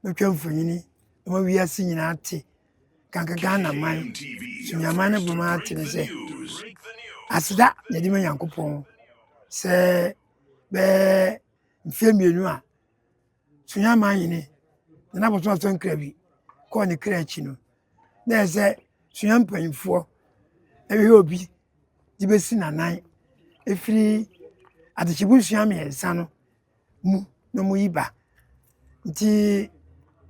bɛtwa mfonini ma wiase nyinaa te kanka Ghana man sumiaman no bɛma ate ne sɛ aseda na ɛde ma Nyankopɔn sɛ bɛɛ mfeɛ mmienu a sumiaman nyini na n'abɔsɔn asɔn kra bi kɔɔ ne kra akyi no na ɛyɛ sɛ sua mpanyinfoɔ ɛbɛhwɛ obi de bɛsi n'anan ɛfiri adekyebo sua mmiɛnsa no mu na ɔmo yi ba nti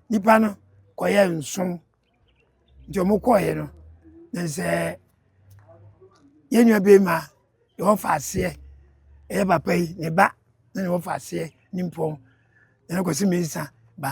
nipa no kɔ yɛ nson nti ɔmo kɔ yɛ no na sɛ yɛ nua bɛɛma deɛ ɔfa aseɛ ɛyɛ papa yi ne ba na ɔfa aseɛ ne mpɔn ɛna kɔsi mɛɛnsa ba.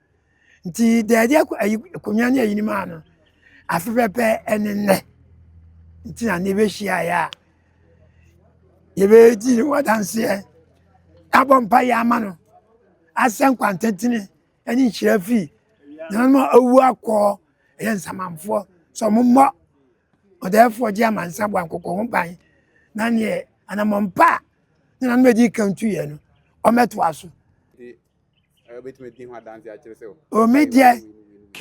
nti dɛɛde akonnwa ne ayinom a no afe pɛpɛ ne nnɛ nti na ne bɛhyiaeɛ a yɛbɛdi ne ho adanseɛ abɔ mpa yɛ ama no asɛ nkwantetene ne nhyira fii nananom a awu akɔɔ ɛyɛ nsamanfoɔ sɛ ɔmommɔ ɔdɛɛfoɔ gye amansa bɔ ankɔkɔ ho ban na neɛ anammɔmpa a ne nanom adi ka ntuiɛ no ɔmɛtoa so omi deɛ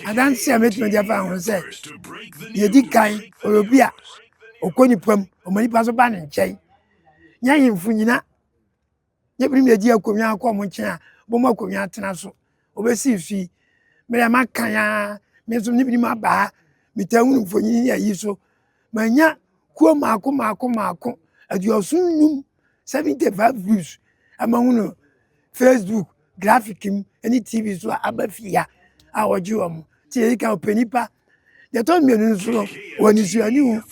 adanse a mɛtumi de afa ho sɛ deɛ di kan ɔyɛ obi a ɔkɔ nipa mu ɔma nipa nso ba ne nkyɛn nyɛ ahemfo nyina nyɛ binom na ɛdi akonnwa akɔ ɔmo nkyɛn a bɔmu akonnwa atena so ɔbɛsi so yi mmerɛ maka ya me nso ne binom aba ha metaa hunu mfonyin ayi so manya kuo maako maako maako aduɔso nnum seventy five views ama hu no facebook graphic mu ne tv so a aba fie ha a ɔgye wɔn te yɛ ka ɔpɛ nipa deɛ ɛtɔ mmienu nso no wɔ ne suani hu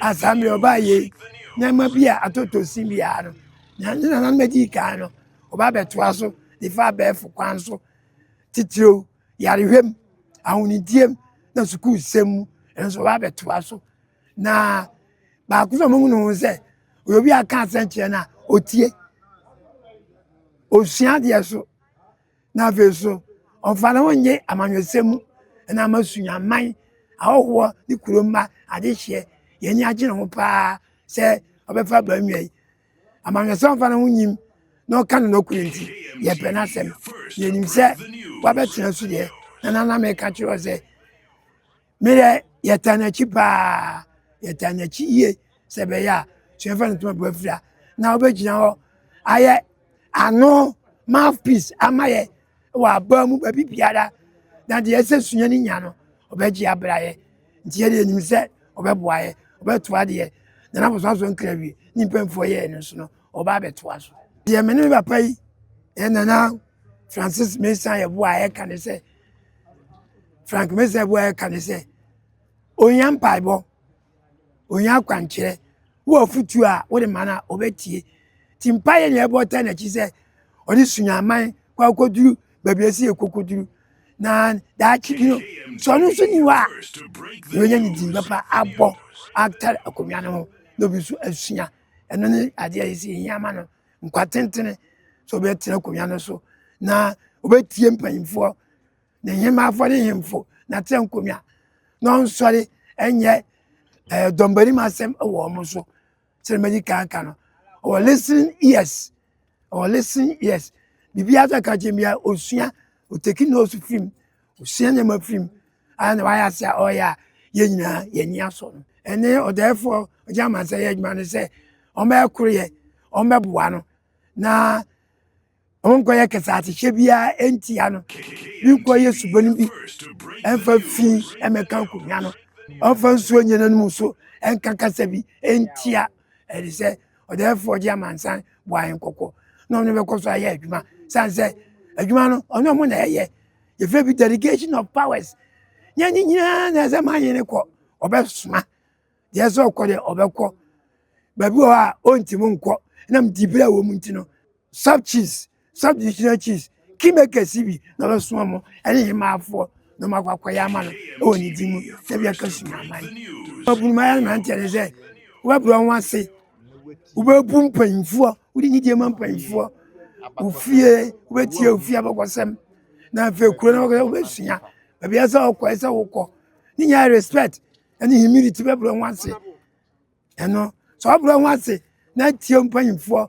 asaa mmerɛ ɔbaa yɛ nneɛma bi a atotɔ si biara no na ne nana mɛdi kan no ɔba abɛtoa so de fa abɛɛfo kwan so titiriw yarehwɛm ahonidiem na sukuusɛm mu ɛno nso ɔba abɛtoa so na baako sɛ ɔmo hunu sɛ ɔyɛ obi a ka asɛnkyerɛ no a ɔtie ɔsua adeɛ so na afei so ɔmfa ne ho nye amanyɔsɛm mu na ama suaman ahɔhoɔ ne kuro mma adehyeɛ yɛni agye ne ho paa sɛ ɔbɛfa baa nnwa yi amanyɔsɛm ɔmfa ne ho nyim na ɔka no nɔkorɛ nti yɛpɛ no asɛm yɛnim sɛ wabɛtena so deɛ na nana meka kyerɛ sɛ Me dɛ yɛtaa n'akyi paa, yɛtaa n'akyi yie sɛ ɛbɛyɛ a suafa no tuma boafiri a na wobɛgyina hɔ ayɛ ano mouthpiece ama yɛ wɔ abaa mu baabi biara na deɛ ɛsɛ sua no nya no ɔbɛgye abra yɛ nti yɛde anim sɛ ɔbɛboa yɛ ɔbɛtoa deɛ nana bosoa so nkra wie ne mpamfoɔ yɛɛ no so no ɔba abɛtoa so deɛ me ne papa yi yɛ nana francis mesa yɛboa a ɛka ne sɛ frank mesa bu a ɛka ne sɛ ohia mpaebɔ ohia akwankyerɛ wɔ afutuo a wode ma no a ɔbɛtie nti mpaeɛ ne ɛbɔ ta n'akyi sɛ ɔde sunyaman kɔ akɔduru baabi ɛsɛ yɛ kɔkɔduru na daakye bi no sɛ ɔno nso ni hɔ a na ɔnya ne din bɛpa abɔ atare akonnwa no ho na obi nso asua ɛno ne adeɛ a yɛsi hia ma no nkwa tentene sɛ ɔbɛtena akonnwa no so na ɔbɛtie mpanyimfoɔ ne nhemmafoɔ ne nhemfo na tena nkonnwa na ɔnsɔre ɛnyɛ ɛɛ dɔmbanim asɛm wɔ wɔn so sɛ mɛdi kan ka no ɔwɔ listening ears ɔwɔ listening ears biribiara sɛ ka kyerɛ bia ɔsua ɔteki nose fim Ɔsua nneɛma firi mu a na wayɛ ase a ɔreyɛ a yɛn nyinaa yɛn ani asɔ no. Ɛne ɔdaɛfoɔ ɔgye amansɛ yɛ adwuma no sɛ ɔmbɛyɛ koroyɛ, ɔmbɛboa no na ɔnkɔyɛ kɛsɛatehyɛ biara ɛntia no, ne nkɔyɛ subɔne bi ɛmfa fi ɛmɛka nkonnwa no, ɔmfa nsuo nyɛ n'anom so ɛnka kasa bi ɛntia ɛde sɛ ɔdaɛfoɔ ɔgye amansan boa yɛn kɔkɔ na ɔno bɛkɔ so ayɛ adwuma sane sɛ adwuma no ɔne ɔmo na ɛyɛ yɛfrɛ bi delegation of powers nyɛ ne nyinaa na ɛsɛ ma yene kɔ ɔbɛsoma deɛ sɛ ɔkɔ deɛ ɔbɛkɔ baabi wɔ hɔ a ɔntim nkɔ nam dibere wɔ mu nti no sub chiefs sub divisional chiefs kingmakers bi na ɔbɛsoma mo ɛne yɛ maafoɔ na ɔmakɔ akɔyɛ ama no ɛwɔ ne di mu sɛ bi aka suma aman ɔbunuma yɛ no mmeranteɛ ne sɛ wobɛbrɛ ho ase wobɛbu mpanyimfoɔ Wode nyideɛ ma mpanyinfoɔ ofie wobɛtie ofie abakɔsɛm na afei kuro no abakɔsɛm wobɛsua baabi a sɛ ɔkɔ ɛsɛ wokɔ ne nyinaa respect ɛne humility bɛbrɛ ho ase ɛno sɛ ɔbrɛ ho ase na tie mpanyinfoɔ